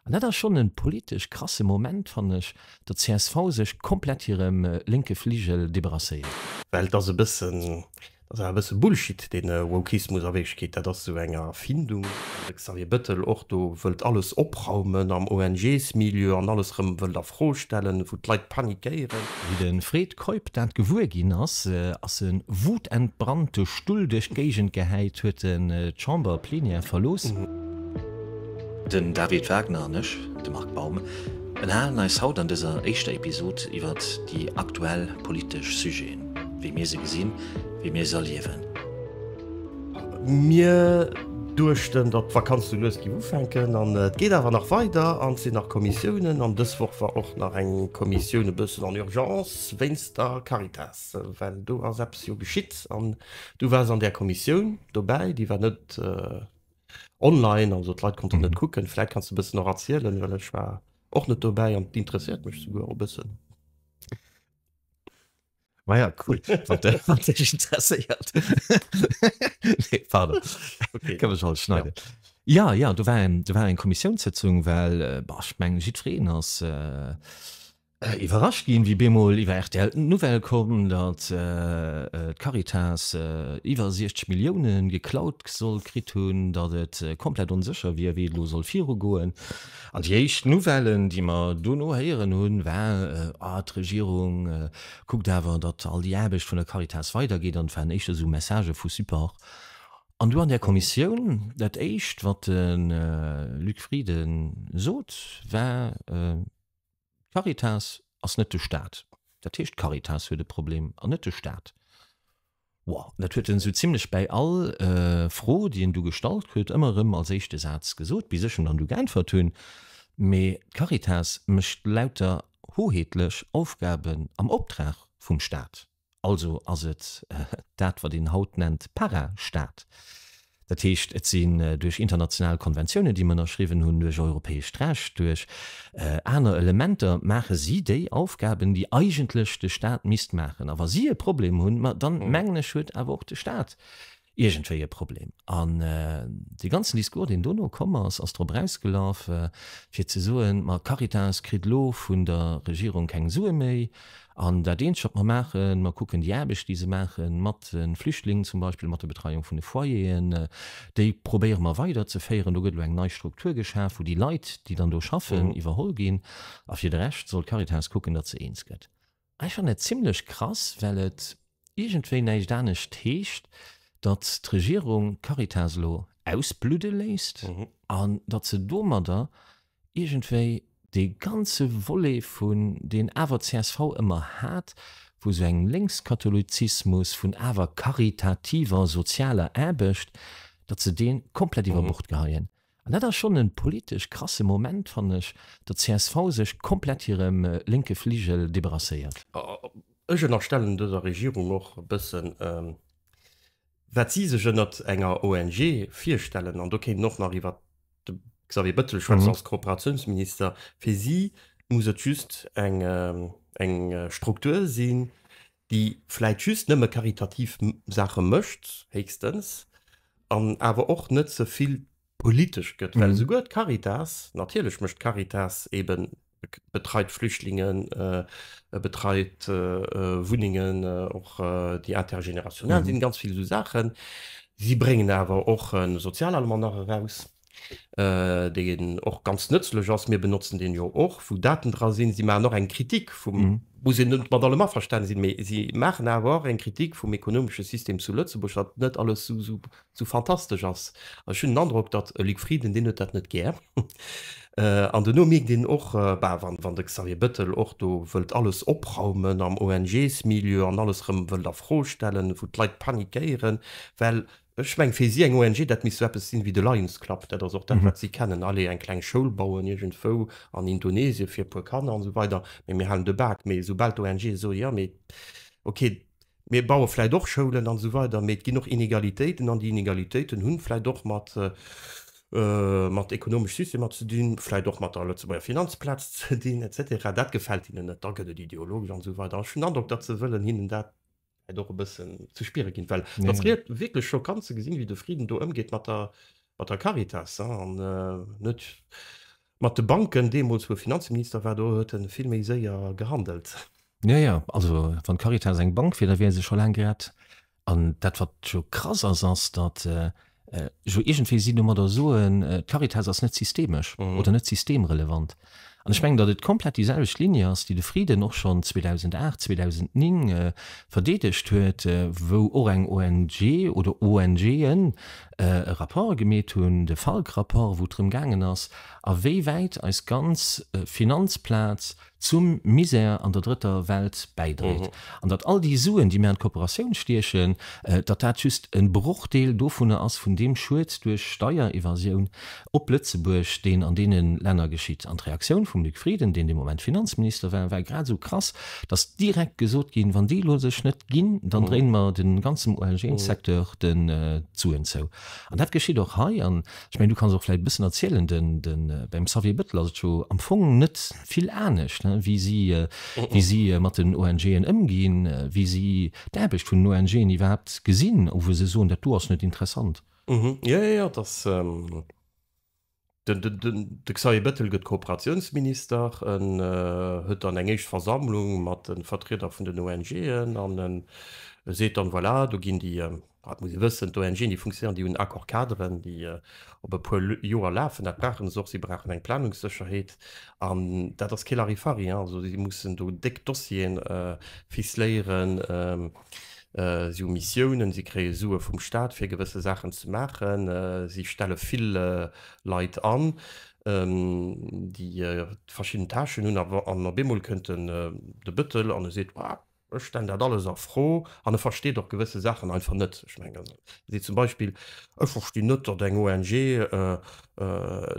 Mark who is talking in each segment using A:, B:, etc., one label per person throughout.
A: An dat ass schonn e politesch krasse Moment, fannen ech, datt csv sech komplett hirem lénke Fligel debarrasséiert. Well et ass e
B: bëssen, dat ass awer e bësse Bullshit, dee Wokismus a Wierklechkeet, dat ass esou eng Erfindung, wou de Xavier Bettel och do wëllt alles opraumen am ONGs-Milieu an alles erëm wëllt a Fro stellen, wou d'Leit panikéieren. Wéi de Fred
A: Keup dat gewuer ginn ass, ass e wutentbrannt de Stull duerch d'Géigend gehäit, huet d'Chamber-Plenière verlooss.
C: Den David Wagner an ech, de Marc Baum, ënnerhalen eis haut an dëser éischter Episod iwwert déi aktuell politesch Sujeten, wéi mir se gesinn, wéi mir se erliewen. Mir
B: duechten, datt d'Vakanz sou lues géif ufänken an et geet awer nach weider an et sinn nach Kommissiounen an dës Woch war och nach eng Kommissioun e bëssen en urgence wéinst der Caritas, well do ass eppes jo geschitt an du waars an där Kommissioun dobäi, déi war net. online, also d'Leit konnten mhm. net kucken. Vläit kannst du bëssen och erzielen, well ech war och net dobäi an d'interesséiert mech souguer o bëssen.
A: Ma ja cool interesséiert Këmmech all schneide. Ja ja, du war du war eng Kommissiounssitzung, well äh, bach menggen jiddwereen ass. Äh, Iwwerrascht ginn, wéi bemol iwwer rtl d'Nouvelle koum, datt d'Caritas iwwer 60 Millioune geklaut soll kritt hunn, datt et komplett onsécher wier, wéi et elo soll virugoen. An déi éischt Nouvellen, déi mer dono héieren hunn, war, ah, d'Regierung kuckt awer, datt all déi Aarbecht vun der Caritas weidergeet. An et waren éischter esou Messagë vu Support. An du an där Kommissioun, dat éischt, wat de Luc Frieden sot, war, D'Caritas ass net de Staat. Dat heescht, d'Caritas huet e Problem an net de Staat. Wow, dat huet en esou zimlech bäi all Fro, déi en do gestallt krut, ëmmer erëm als éischte Saz gesot, bis ech em dann du geäntwert hunn, Mee d'Caritas mécht lauter hoheetlech Aufgaben am Optrag vum Staat. Also ass et dat, wat een haut nennt Para-Stat. Dat heescht, et sinn duerch international Konventiounen, déi mer ënnerschriwwen hunn, duerch europäescht Recht, duerch aner Elementer maache si déi Aufgaben, déi eigentlech de Stat misst maachen. A wa si e Problem hunn, ma dann, mengen ech, huet awer och de Stat iergendwéi e Problem. An dee ganzen Discours, deen dono komm ass, ass drop erausgelaf, fir ze soen, ma d'Caritas kritt elo vun der Regierung keng Sue méi an dat Eenzegt, wat mer maachen, mer kucken déi Aarbecht, déi se maache mat de Flüchtlingen zum Beispill, mat der Betreiung vun de Foyeren, déi probéiere mer weiderzeféieren. Do gëtt elo eng nei Struktur geschaf, wou déi Leit, déi dann do schaffen, iwwerholl ginn. A fir de Rescht soll d'Caritas kucken, datt se eens gëtt. Ech fannen et zimlech krass, well et iergendwéi näischt anescht heescht, datt d'Regierung d'Caritas elo ausbludde léisst an datt se domadder iergendwéi dee ganze Volet vun, deen awer d'CSV ëmmer hat, vu sou engem Lénkskatholizismus, vun awer karitativer sozialer Aarbecht, datt se dee komplett iwwer Bord geheien. An dat ass schonn e politesch krasse Moment, fannen ech, datt d'CSV sech komplett hirem lénke Fligel debarrasséiert. Ech
B: ënnerstellen dëser Regierung och e bëssen, wat si sech ënnert enger ONG virstellen. An do kéinten och nach iwwert de Xavier Bëttel schwätzen als Kooperatiounsminister. Fir si muss et just eng Struktur sinn, déi vläit just nëmme karitativ Saache mécht, héchstens, an awer och net ze vill politesch gëtt, well esouguer d'Caritas, natierlech mécht d'Caritas eeben, betreit Flüchtlingen, betreit Wunnengen, och déi intergénérationnel sinn, ganz vill esou Saachen, si bréngen awer och e Sozialalmanach eraus, deen och ganz nëtzlech ass, mir benotzen deen jo och, wou Daten dra sinn, si maachen och eng Kritik vum, muss een net mat allem averstane sinn, mee si maachen awer och eng Kritik vum ekonomesche System zu Lëtzebuerg, datt net alles esou fantastesch ass. An ech hunn den Androck, datt e Luc Frieden, deen huet dat net gär. An duerno mierkt een och, bah, wann de Xavier Bettel och do wëllt alles opraumen am ONGs-Milieu an alles erëm wëllt a Fro stellen, wou d'Leit panikéieren, well Ech mengen, fir si eng ONG, dat misst sou eppes sinn ewéi de Lions Club, dat ass och dat, wat si kennen, allez, eng kleng Schoul bauen iergendwou an Indonesien fir e puer Kanner an esou weider, mee mir halen de Bak. Mee soubal d'ONGe soen, jo, mee okay, mir baue vläicht och Schoulen an esou weider, mee et ginn och Inegalitéiten an déi Inegalitéiten hunn vläicht och mat, mat ekonomesch Systemer ze dinn, vläicht och mat der Lëtzebuerger Finanzplaz ze dinn, et cetera, dat gefält hinnen net, da gëtt et ideologesch an esou weider. Ech hunn den Androck, datt se wëllen hinnen dat do e bëssen ze spiere ginn, well dat freet wierklech schockant ze gesinn, wéi de Frieden do ëmgeet mat der, mat der Caritas an net mat de Banken. Deemools, wou e Finanzminister war, do huet e vill méi séier gehandelt. Jo, jo,
A: also wann d'Caritas eng Bank wier, da wier se scho laang grad. An dat, wat jo krass ass, ass, datt Ech iergendwéi sinn domat der soen, d'Caritas ass net systemesch oder net systemrelevant. An ech mengen, datt et komplett déi selwecht Ligne ass, déi de Frieden och schonn 2008, 2009 verdeedegt huet, wou och eng ONG oder ONGen e Rapport gemeet hunn, de Falk-Rapport, wou et drëm gaangen ass, a wéi wäit eis ganz Finanzplaz zum Misär an der drëtter Welt bäidréit, an datt all déi Suen, déi mir an d'Kooperatioun stiechen, datt dat just e Brochdeel dovunner ass, vun deem Schued duerch Steierevasioun op Lëtzebuerg, deen an deene Länner geschitt. An d'Reaktioun vum Luc Frieden, deen dee Moment Finanzminister war, war grad esou krass, datt direkt gesot ginn, Wann déi elo sech net ginn, dann dréine mer dem ganzem ONG-Secteur d'Suen zou. An dat geschitt och hei. Ech mengen du kanns och vläit e bëssen erzielen, den, den, beim Xavier Bëttel ass et jo am Fong net vill anescht, ne, wéi si, wéi si mat den ONGen ëmginn, wéi si d'Aarbecht vun den ONGen iwwerhaapt gesinn, ou wou se soen, dat do ass net interessant. Jo, jo, jo, et
B: ass, den, den, den, de Xavier Bëttel gëtt Kooperatiounsminister, en huet dann eng éischt Versammlung mat de Vertrieder vun den ONGen an e seet dann, voilà, do ginn déi, Et muss ee wëssen, d'ONGen, déi funktionéieren, déi hunn Accord-caderen, déi op e puer Joer lafen. Dat brauchen se och. Si brauchen eng Planungssécherheet. An dat ass kee Larifari, hein. Also si mussen do déck Dossieren ficeléieren. Si hu Missiounen, si kréie Sue vum Staat, fir gewësse Saachen ze maachen. Si stelle vill Leit an, déi verschidden Tâchen hunn. An op eemol kënnt de Bëttel an e seet, Ech stellen dat alles a Fro an e versteet och gewësse Saachen einfach net. Ech mengen, ewéi zum Beispill, ech verstinn net, datt eng ONG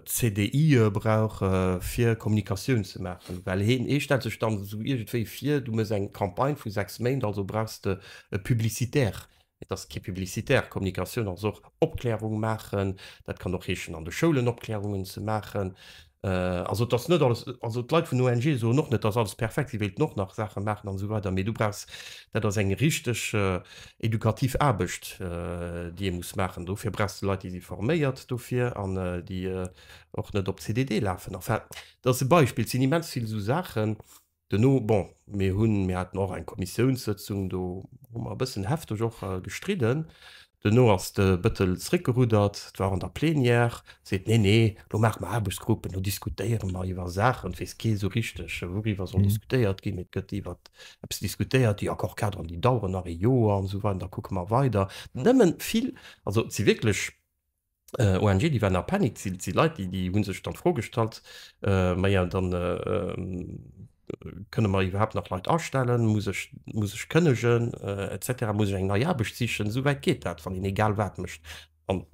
B: CDIe brauch fir Kommunikatioun ze maachen, well hien, ee stellt sech dann esou iergendwéi vir, du méchs eng Campagne vu sechs Méint, also brauchs de e Publicitaire Et ass kee publicitaire, Kommunikatioun ass och Opklärung maachen. Dat kann och heeschen an de Schoulen Opklärungen ze maachen. Also et ass net alles, also d'Leit vun ONGe soen och net, et ass alles perfekt, si wéilten och nach Saache maachen an esou weider, mee du brauchs, dat ass eng richteg edukativ Aarbecht, déi ee muss maachen. Dofir brauchs de Leit, déi si forméiert dofir an déi och net op CDD lafen. Enfin, dat ass e Beispill, et sinn immens vill esou Saachen, Duerno, bon, mir hunn, mir haten och eng Kommissiounssëtzung, do hu mer e bëssen hefteg och gestridden. Duerno ass de Bëttel zréckgeruddert, et war an der Plenière, seet, Nee, nee, elo maache mer Aarbechtsgruppen, elo diskutéiere mer iwwer Saachen. Et weess kee esou richteg, wouriwwer soll diskutéiert ginn. Et gëtt iwwer eppes diskutéiert, déi Accord-cadren, déi daueren nach ee Joer an esou weider, da kucke mer weider. Nëmmen vill, also et si wierklech ONGen, déi waren a Panik, si si Leit, déi hu sech dann d'Fro gestallt, Maja, da kënne mer iwwerhaapt nach Leit astellen? Muss ech muss ech kënnegen et cetera? Muss ech eng nei Aarbecht sichen? Esou wäit geet dat, wann een egal wat mécht. An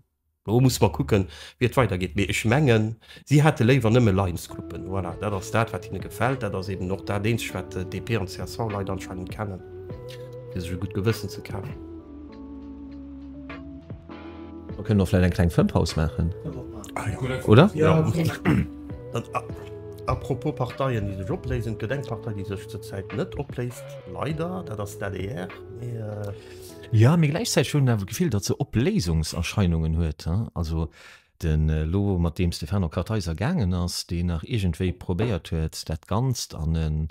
B: elo musse mer kucken, wéi et weidergeet. Mee ech mengen, Si hätte léiwer nëmme Lions-Coupen. Voilà, dat ass dat, wat hinne gefält. Dat ass eeben och dat eenzegt, wat DP an CSV-Leit anscheinend kennen, fir sech e gutt Gewëssen ze kafen.
A: Mer kënnen och vläicht eng kleng Fëmmpaus maachen, oder? Jo.
B: A propos Parteien, déi sech opléisen, Et gëtt eng Partei, déi sech zur Zäit net opléist, leider. Dat ass d'ADR. Mee.
A: Jo, mee gläichzäiteg hunn awer d'Gefill, datt se Opléisungserscheinungen huet, hein. Also, Den elo mat deem Stefano Kartheiser gaangen ass, deen nach iergendwéi probéiert huet, dat Ganzt an en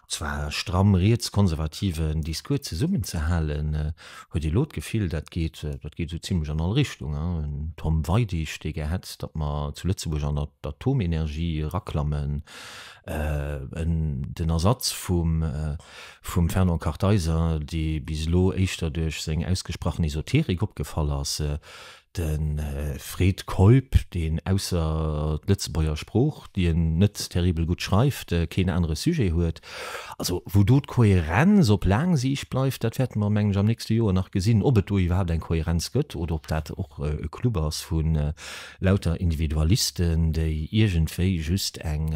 A: zwar stramm rietskonservativen Discours zesummenzehalen, huet elo d'Gefill, dat geet esou zimlech an all Richtung. Den Tom Weidig, dee gär hätt, datt mer zu Lëtzebuerg an d'Atomenergie eraklammen, en den Ersatz vum Fernand Kartheiser, dee bis elo éischter duerch seng ausgesprachen Esoterik opgefall ass, De Fred Keup, deen ausser d'Lëtzebuerger Sprooch, déi en net terribel gutt schreift, keen anere Sujet huet. Also wou do d'Kohärenz op laang Siicht bleift, dat wäerte mer, mengen ech, am nächste Joer nach gesinn, ob et do iwwerhaapt eng Kohärenz gëtt oder ob dat och e Club ass vu lauter Individualisten, déi iergendwéi just eng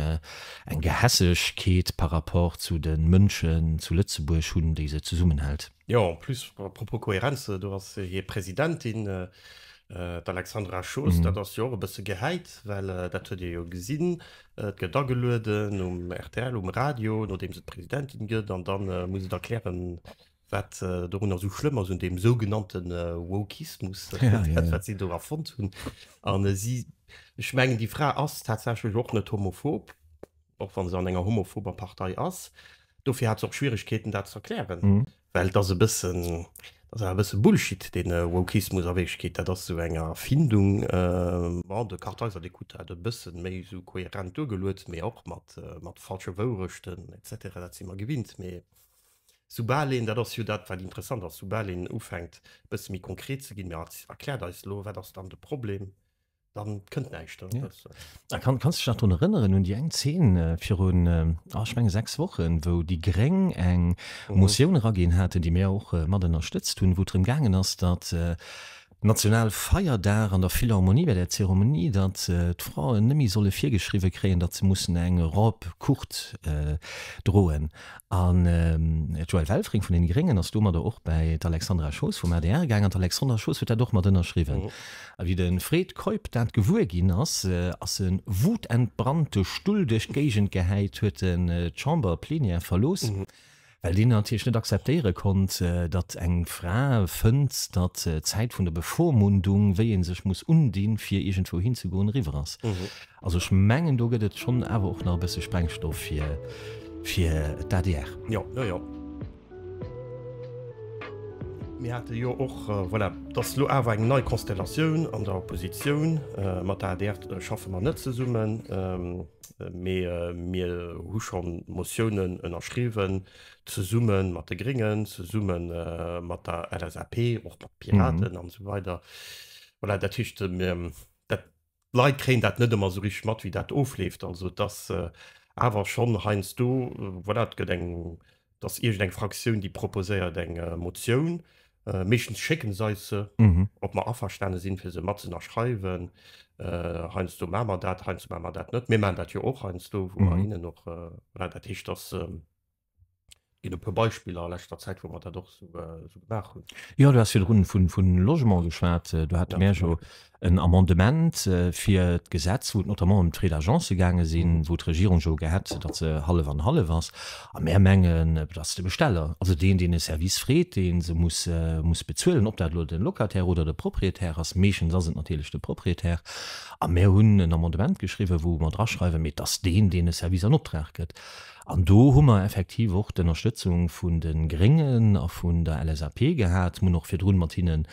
A: Gehässegkeet par rapport zu de Mënschen zu Lëtzebuerg hunn, déi se zesummenhält. Jo, en plus, à
B: propos Kohärenz, do ass hir Presidentin, d'Alexandra Schoos, dat ass jo och e bësse gehäit, well dat huet ee jo gesinn, et gëtt agelueden um rtl, um Radio, nodeem se Presidentin gëtt, an da muss et erklären, wat dorunner esou schlëmm ass, un deem sougenannte Wokismus, dat wat si do erfonnt hunn. An si, ech mengen, déi Fra ass tatsächlech och net homophob. och wa se an enger homophober Partei ass, dofir hat se och Schwieregkeeten dat z'erklären, well et ass e bëssen, et ass awer e bësse Bullshit dee Wokismus a Wierklechkeet, dat ass esou eng Erfindung, bon, de Kartheiser dee krut dat e bësse méi esou kohärent duergeluet, mee och mat falsche Wourechten et cetera, dat si mer gewinnt, mee soubal een, dat ass jo dat wat interessant ass, soubal een ufänkt e bësse méi konkret ze ginn, erkläert eis elo, wat ass dann de Problem? dann kënnt näischt. Ja. Äh, kann, kannst
A: dich nach daran erinnern hun die eng 10 äh, fir hun äh, ah, ich mein, sechs Wochen wo die Gréng eng mhm. Motion ragin hatten, die mir auch äh, mat unterstützt hun, wo drin gangen ass dat äh, national Feierdag an der Philharmonie bei der Zeremonie, dat äh, d'Frauen nëmi solle virgeschriwe kréien, dat ze mussssen eng Rob kucht äh, droen. An ähm, Joel Welfring vun den Gréngen ass du mat der och bei d'Alexandra Schoos vum ADR gang an d'Alexandra Schoos huet dat doch mat ënnerschriwen. Mhm. A wéi de Fred Keup dat gewuer ginn ass, ass e wutentbrannt de Stull duerch d'Géigend gehäit, huet en d'Chamber plénière verlooss, well deen natierlech net akzeptéiere konnt, datt eng Fra fënnt, datt d'Zäit vun der Bevormundung, wéi ee sech muss undinn, fir iergendwou hinzegoen, eriwwer ass. Also ech mengen, do gëtt et schonn awer och nach e bësse Sprengstoff fir d'ADR. Jo, jo, jo.
B: Mir hate jo och, voilà, dass elo awer eng nei Konstellatioun an der Oppositioun, mat der adr schaffe mer net zesummen, mee mir hu scho Motiounen ënnerschriwwen, zesumme mat de Gréngen, zesumme mat der LSAP, och mat Piraten an esou weider. Voilà, dat heescht, dat. d'Leit kréien dat net ëmmer esou richteg mat, wéi dat ofleeft. Also et ass awer schonn heiansdo, voilà, et gëtt eng, et ass iergendeng Fraktioun, déi proposéiert eng Motioun. Meeschtens schécke se eis se, ob mer averstane sinn, fir se matzënnerschreiwen. Heiansdo maache mer dat, heiansdo maache mer dat net. Mir maachen dat jo och heiansdo, wou mer hinnen och, voilà, dat heescht, dass, Et gëtt e puer Beispiller a leschter Zäit, wou mer dat och esou gemaach hunn. Jo, du has virdrun
A: vun Logement geschwat. Do hate mer jo en Amendement fir d'Gesetz, wou et notamment ëm d'Frais d'agence gaange sinn, wou d'Regierung jo gehat huet, datt se hallef an hallef ass. A mer mengen, et ass de Besteller, also deen, deen e Service freet, dee se muss bezuelen, ob dat elo de Locataire oder de Proprietär ass. Meeschtens ass et natierlech de Proprietär. A mer hunn en Amendement geschriwwen, wou mer draschreiwen, mee et ass deen, deen e Service an Optrag gëtt. An do hu mer effektiv och d'Ënnerstëtzung vun de Gréngen a vun der LSAP gehat. Mer hunn och virdrun mat hinne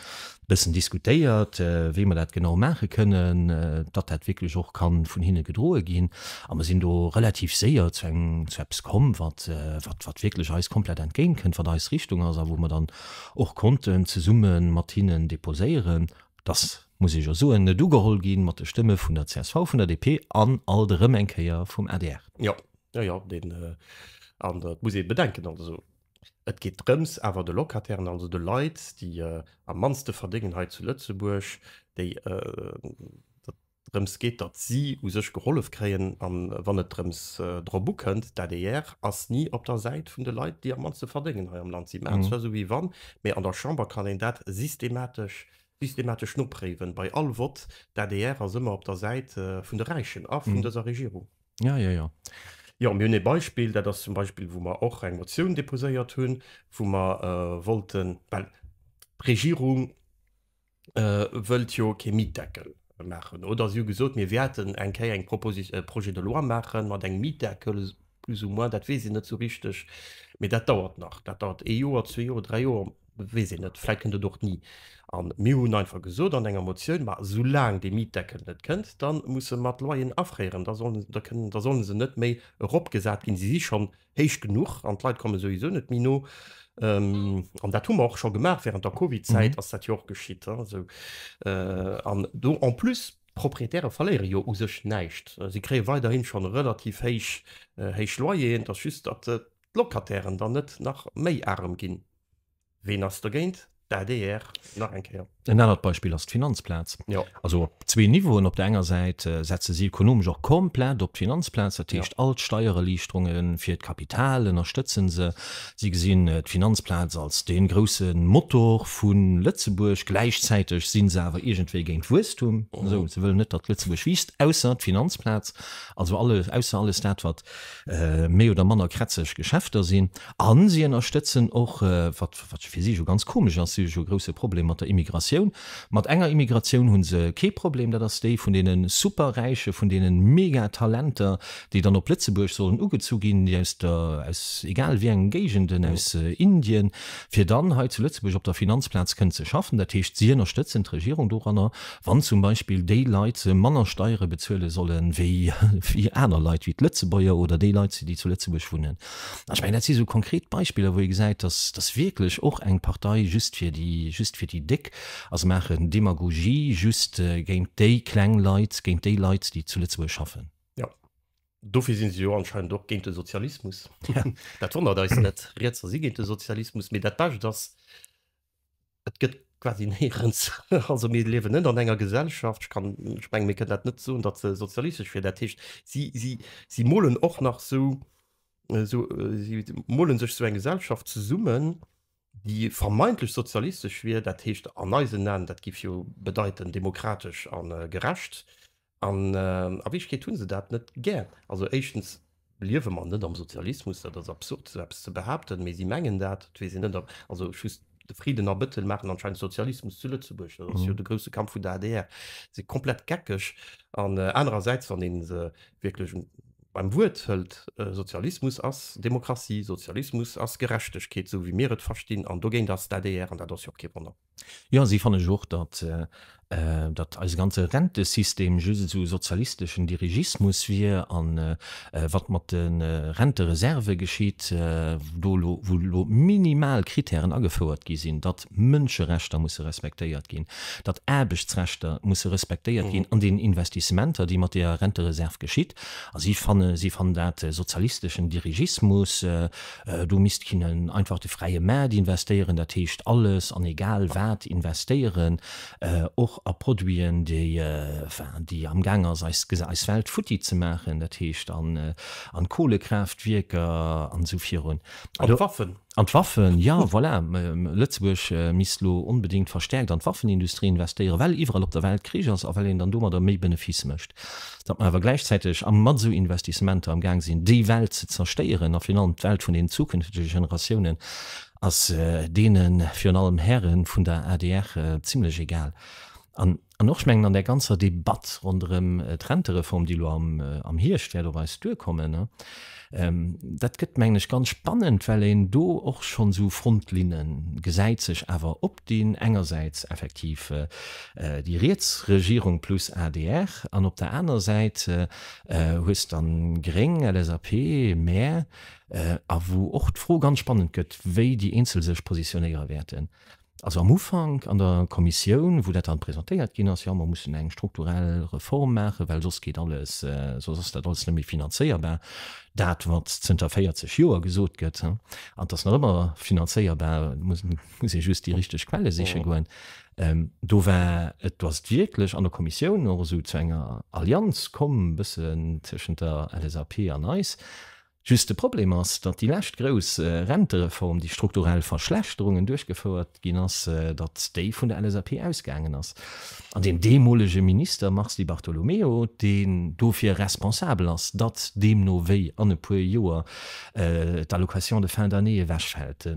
A: bëssen diskutéiert, wéi mer dat genau maache kënnen, datt dat wierklech och ka vun hinne gedroe ginn. A mer sinn do relativ séier zu engem, zu eppes komm, wat, wat, wat wierklech eis komplett entgéint kënnt, wat eis Richtung ass a wou mer dann och konnten zesumme mat hinnen déposéieren, datt, muss ech jo soen, net ugeholl gi mat de Stëmme vun der csv, vun der DP an alt erëm eng Kéier vum adr. Jo, Jo, jo, deen,
B: an dat muss ee bedenken, also et geet drëms awer de Locatairen, also de Leit, déi am mannste verdéngen hei zu Lëtzebuerg, déi, datt drëms geet, datt si u sech gehollef kréien. A wann et drëms drop ukënnt, d'ADR ass ni op der Säit vun de Leit, déi am mannste verdéngen hei am Land. Si maachen zwar esou wéi wann, mee an der Chamber kann een dat systematesch, systematesch nopréiwen, bei all Vott, d'ADR ass ëmmer op der Säit vun de Räichen a vun dëser Regierung. Ja, ja, ja. Jo, mir hunn e Beispill, dat ass zum Beispill, wou mer och eng Motioun déposéiert hunn, wou mer wollten, well d'Regierung wëllt jo kee Mietdeckel maachen, oder si hu gesot, mir wäerten eng Kéier eng Proposi, e Projet de loi maachen mat engem Mietdeckel, plus ou moins, dat weess een net esou richteg, mee dat dauert nach, dat dauert ee Joer, zwee Joer, dräi Joer. weess een net, vläit kënnt et och ni. A mir hunn einfach gesot an enger Motioun, ma soulaang dee Mietdeckel net kënnt, da muss se mat Loyeren afréieren, da solle se net méi eropgesat ginn, se si schonn héich genuch an d'Leit komme souwisou net méi no. An dat hu mer och scho gemaach, wärend der Covid-Zäit ass dat jo och geschitt. An do en plus, d'Proprietäre verléiere jo u sech näischt, si kréie weiderhi scho relativ héich Loyeren, et ass just, datt d'Locatairen dann net nach méi arem ginn. Ween ass dergéint? D'ADR nach eng Kéier. En
A: anert Beispill ass d'Finanzplaz. Jo. Also op
B: zwee Niveauen,
A: Op der enger Säit setze si ekonomesch och komplett op d'Finanzplaz, dat heescht all d'Steiererliichterunge fir d'Kapital ënnerstëtze se. Si gesinn d'Finanzplaz als dee grousse Motor vu Lëtzebuerg. Gläichzäiteg si se awer iergendwéi géint Wuesstum. Se wëllen net, datt Lëtzebuerg wiisst, ausser d'Finanzplaz, also alles, ausser alles dat wat méi oder manner krätzeg Geschäfter sinn, a si ënnerstëtzen och, wat fir si jo ganz komesch ass, si hu jo e grousse Problem mat der Immigratioun, mat enger Immigratioun hu se kee Problem, dat ass déi vun deene Superräiche, vun deene Megatalenter, déi dann op Lëtzebuerg sollen ugezu ginn, déi aus der, aus egal wéi engen Géigenden, aus Indien, fir dann hei zu Lëtzebuerg op der Finanzplaz kënnen ze schaffen. Dat heescht, si ënnerstëtzen d'Regierung doranner, Wann zum Beispill déi Leit se manner Steiere bezuele solle wéi aner Leit, wéi d'Lëtzebuerger oder déi Leit, déi zu Lëtzebuerg wunnen. Ech mengen, dat si sou konkret Beispiller, wou ee gesäit, dass wierklech och eng Partei just fir déi, just fir déi Déck ass. Se maachen Demagogie just géint déi kleng Leit, géint déi Leit, déi zu Lëtzebuerg schaffen. Jo,
B: dofir si se jo anscheinend och géint de Sozialismus. Dat wonnert eis net. Rietser si géint de Sozialismus, mee dat Bescht ass, Et gëtt quasi néierens, also mir liewen net an enger Gesellschaft, ech kann, ech mengen, mir kënnen dat net soen, datt se sozialistesch wier. Dat heescht, si, si, si molen och nach esou, esou, si mole sech esou eng Gesellschaft zesummen, déi vermeintlech sozialistesch wier, dat heescht an eisen Aen, dat géif jo bedeiten demokratesch a gerecht, An a Wierklechkeet hu se dat net gär. Also éischtens liewe mer net am Sozialismus, dat ass absurd esou eppes ze behaapten, mee si mengen dat. Et weess een net, also just de Frieden a Bettel maachen anscheinend Sozialismus zu Lëtzebuerg, dat ass jo de grousse Kampf vun der adr. Si komplett geckeg. An anerersäits, wann ee se wierklech beim Wuert hëlt, Sozialismus ass Demokratie, Sozialismus ass Gerechtegkeet, esou wéi mir et verstinn, an dogéint ass d'ADR, an dat ass jo och kee Wonner. Jo, si fannen ech
A: och, datt datt eise ganze Rentesystem just esou sozialisteschen Dirigismus wier. A wat mat de Rentereserve geschitt, do elo wou elo minimal Kritären agefouert gi sinn, datt Mënscherechter musse respektéiert ginn, datt Aarbechtsrechter musse respektéiert ginn an deenen Investissementer, déi mat deeër Rentereserve geschitt. A si fanne si fannen dat sozialisteschen Dirigismus. Do misst kinnen einfach de fräie Maart investéieren, dat heescht alles an egal wat investéieren, och a Produiten, déi, enfin, déi amgaang ass eis eis Welt futti ze maachen, dat heescht an an Kohlekraaftwierker an esou virun. An d'Waffen. An
B: d'Waffen,
A: jo, voilà. Lëtzebuerg misst elo onbedéngt verstärkt an d'Waffenindustrie investéieren, well iwwerall op der Welt Krich ass a well een dann domadder méi Benefice mécht. datt mer awer gläichzäiteg a mat esou Investissementer am Gaang sinn, déi Welt ze zerstéieren a virun allem d'Welt vun den zukünftege Generatiounen ass deene virun allem Häre vun der adr zimlech egal. An och, ech mengen, an där ganzer Debatt ronderëm d'Rentereform, déi elo am Hierscht wäert op eis duerkommen, dat gëtt, mengen ech, ganz spannend, well een do och schonn esou Frontlinne gesäit, sech awer op. deen engersäits effektiv déi riets Regierung plus adr an op der anerer Säit hues de dann Gréng, LSAP, mer a wou och d'Fro ganz spannend gëtt, wéi déi eenzel sech positionéiere wäerten. Also am Ufank an der Kommissioun, wou dat dann presentéiert ginn ass, jo mer mussen eng strukturell Reform maachen, well soss geet alles, soss ass dat alles net méi finanzéierbar, dat wat zënter 40 Joer gesot gëtt, an et ass nach ëmmer finanzéierbar, muss ee just déi richteg Quelle siche goen. Do war et, do ass et wierklech an der Kommissioun och esou zu enger Allianz komm e bëssen tëschent der LSAP an eis. Just de Problem ass, datt déi lescht grouss Rentereform, déi strukturell Verschlechterungen duerchgefouert ginn ass, datt déi vun der LSAP ausgaangen ass an deem deemolege Minister Mars Di Bartolomeo, deen dofir responsabel ass, datt deemno wéi an e puer Joer d'Allocation de fin d'année ewechfält.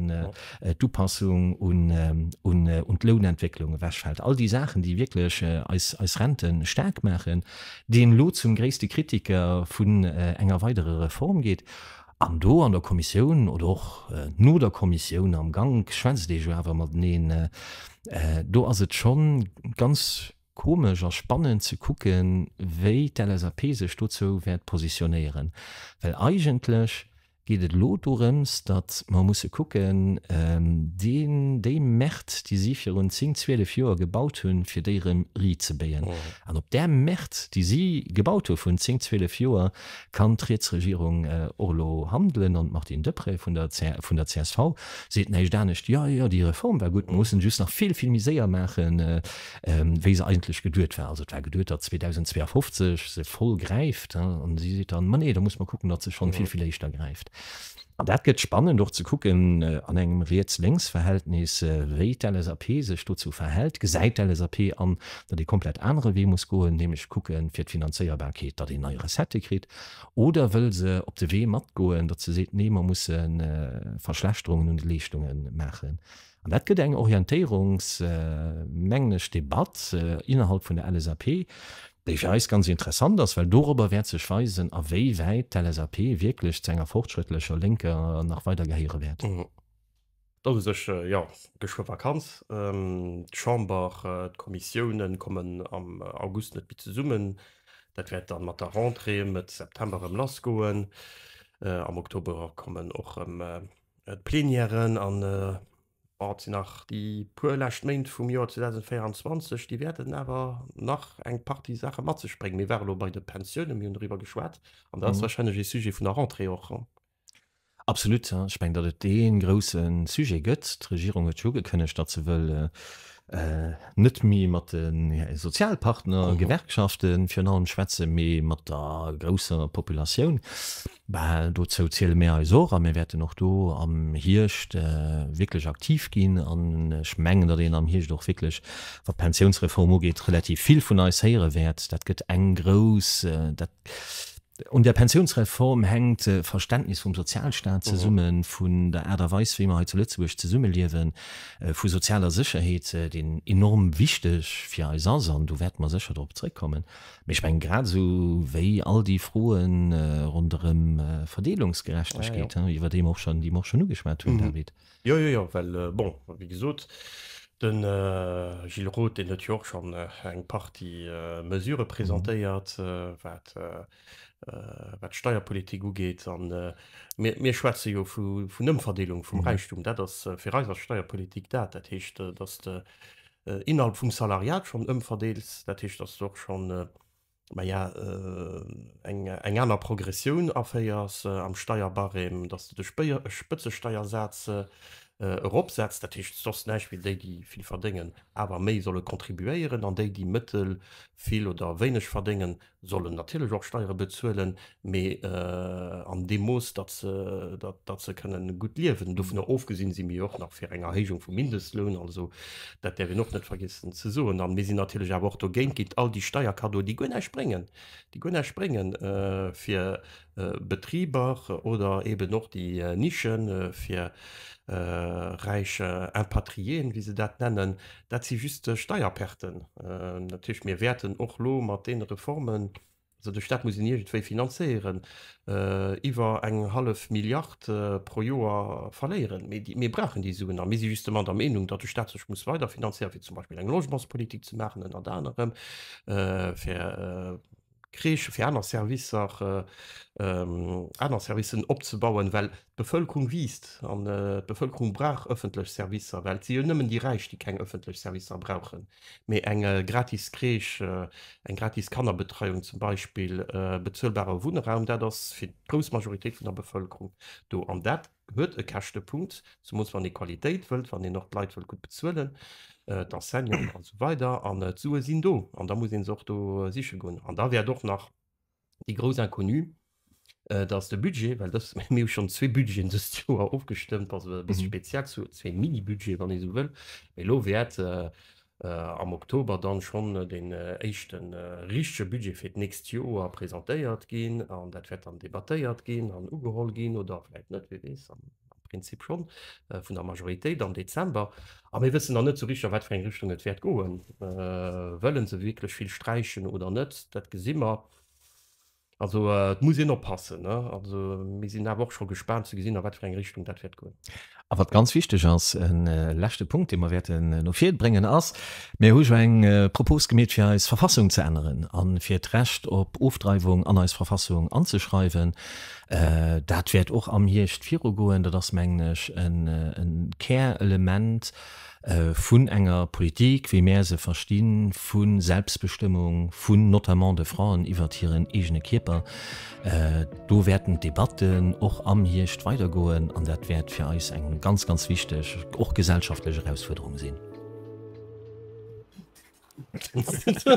A: d'Upassung un d'Lounentwécklung ewechfällt, all déi Saachen, déi wierklech eis Rente staark maachen, deen elo zum gréisste Kritiker vun enger weiderer Reform geet. An do an der Kommissioun oder och no der Kommissioun am Gank schwätzt ee jo awer mateneen. Do ass et scho ganz komesch a spannend ze kucken, wéi d'LSAP sech dozou wäert positionéieren, well eigentlech, geet et elo dorëms, datt mer musse kucken, deen, déi Märt, déi si virun zéng, zwielef Joer gebaut hunn, fir déi erëm rizebéien. An op där Märt, déi si gebaut hu virun zéng, zwielef Joer, kann d'riets Regierung och elo handelen. An d'Martine Deprez vun der, vun der csv seet näischt anescht, Jo, jo, déi Reform war gutt, mer mussen just nach vill, vill méi séier maachen, wéi se eigentlech geduet war. Also et war geduet, datt 2052 se voll gräift an si seet dann, ma nee, da muss mer kucken, datt se schonn vill, vill éischter gräift. An dat gëtt spannend och ze kucken an engem Riets-Lénks-Verhältnis, wéi d'LSAP sech dozou verhält. Gesäit d'LSAP an, datt ee komplett anere Wee muss goen, nämlech kucke fir d'Finanzéierbarkeet, datt een nei Recettë kritt? Oder wëll se op de Wee matgoen, datt se seet, nee, mer musse Verschlechterungen un de Leeschtunge maachen? An dat gëtt eng Orientéierungs, mengen ech, Debatt innerhalb vun der LSAP, déi fir eis ganz interessant ass, well dorobber wäert sech weisen, a wéi wäit d'LSAP wierklech zu enger fortschrëttlecher Lénker nach weider gehéiere wäert. Dann hu
B: sech jo geschwë Vakanz. D'Chamber, d'Kommissiounen kommen am August net méi zesummen. Dat wäert dann mat der Rentrée Mëtt September erëm lassgoen. Am Oktober kommen och erëm D'Plenièren an, bon, et sinn nach déi puer lescht Méint vum Joer 2024, déi wäerten awer nach eng Partie Saache mat sech bréngen. Mir ware lo bei de Pensiounen, mir hunn doriwwer geschwat an dat ass warscheinlech ee Sujet vun der Rentrée och. Absolut,
A: ja. Ech mengen, datt et dee grousse Sujet gëtt. D'Regierung huet jo ugekënnegt, datt se wëll net méi mat de Sozialpartner, Gewerkschaften virun allem, schwätzen, mee mat der grousser Populatioun. Bal dozou ziele mir eis och a mir wäerten och do am Hierscht wierklech aktiv ginn. An ech mengen, datt een am Hierscht och wierklech, wat d'Pensiounsreform ugeet, relativ vill vun eis héiere wäert. Dat gëtt eng grouss, dat, un där Pensiounsreform hänkt d'Verständnis vum Sozialstaat zesummen, vun der Aart a Weis, wéi mir hei zu Lëtzebuerg zesummeliewen, vu sozialer Sécherheet, déi enorm wichteg fir eis ass. An do wäerte mer sécher drop zrëckkommen. Mee ech mengen, grad esou wéi all déi Froen ronderëm Verdeelungsgerechtegkeet, hein, iwwert déi mer och schonn, déi mer och schonn ugeschwat hunn, David. Jo, jo, jo, well,
B: bon, wéi gesot, de Gilles Roth, deen huet jo och schonn eng Partie Mesurë presentéiert, wat, wat d'Steierpolitik ugeet. A mir, mir schwätze jo vun Ëmverdeelung vum Räichtum. Dat ass, fir eis ass Steierpolitik dat. Dat heescht, datt de, innerhalb vum Salariat schonn ëmverdeels, dat heescht, dass du och schonn, ma ja, eng, eng aner Progressioun aféiers am Steierbarème, dass du de Spëtzesteiersaz eropsetzt, dat heescht, soss näischt wéi déi, déi vill verdéngen, awer méi solle contribuéieren, an déi, déi mëttel-, vill oder wéineg verdéngen, sollen natierlech och Steiere bezuelen, mee an deem Mooss, datt se kënnen gutt liewen. Dovunner ofgesinn si mir jo och nach fir eng Erhéijung vum Mindestloun, also dat däerf een och net vergiessen ze soen. A mir sinn natierlech awer och dogéint, géint all déi Steierkaddoen, déi guer näischt bréngen, déi guer näischt bréngen fir Betriber oder eben och déi Niche fir räich Impatriéen, wéi se dat nennen, dat si just Steierperten. Dat heescht, mir wäerten och elo mat deene Reformen, also de Stat muss een iergendwéi finanzéieren, iwwer eng hallef Milliard pro Joer verléieren. Mee mir brauchen déi Suen. A mir si justement der Meenung, datt de Stat sech muss weider finanzéieren, fir zum Beispill eng Logementspolitik ze maachen, ënnert anerem fir Crèche, fir aner Servicer, aner Servicen opzebauen, well d'Bevëlkerung wiisst an d'Bevëlkerung brauch ëffentlech Servicer, well et si jo nëmmen déi Räich, déi keng ëffentlech Servicer brauchen, mee eng gratis Crèche, eng gratis Kannerbetreiung zum Beispill, bezuelbare Wunnraum, dat ass fir d'grouss Majoritéit vun der Bevëlkerung do. An dat huet e Käschtepunkt, zemools wann ee Qualitéit wëllt, wann een och d'Leit wëllt gutt bezuelen, d'Enseignanten an esou weider. An d'Sue sinn do an da muss ee se och do siche goen. An da wäert och nach déi grouss Inconnue, dass de Budget, well dës, mir hu schonn zwee Budgeten dëst Joer ofgestëmmt, also e bësse speziell, zwee Mini-Budgete wann ee esou wëll, mee elo wäert am Oktober dann schonn deen éischte richtege Budget fir d'nächst Joer presentéiert ginn an dat wäert dann debattéiert ginn an ugeholl ginn, oder vläicht net, wie weess, am Prinzip schonn, vun der Majoritéit am Dezember. A mir wëssen nach net esou richteg, a wat fir eng Richtung et wäert goen. Wëlle se wierklech vill sträichen oder net? Dat gesi mer. Also et muss een oppassen. Also mir sinn awer och scho gespaant ze gesinn, a wat fir eng Richtung dat wäert goen. A wat ganz wichteg
A: ass, e leschte Punkt, dee mer wäerten no vir bréngen, ass, Mir hu jo eng Propos gemeet, fir eis Verfassung ze änneren a fir d'Recht op Ofdreiwung an eis Verfassung anzeschreiwen. Dat wäert och am Hierscht virugoen. Dat ass, mengen ech, e Kärelement vun enger Politik, wéi mär se verstinn, vu Selbstbestëmmung, vun notamment de Fraen iwwert hiren eegene Kierper. Do wäerten d'Debatten och am Hierscht weidergoen an dat wäert fir eis eng ganz, ganz wichteg, och gesellschaftlech Erausfuerderung sinn.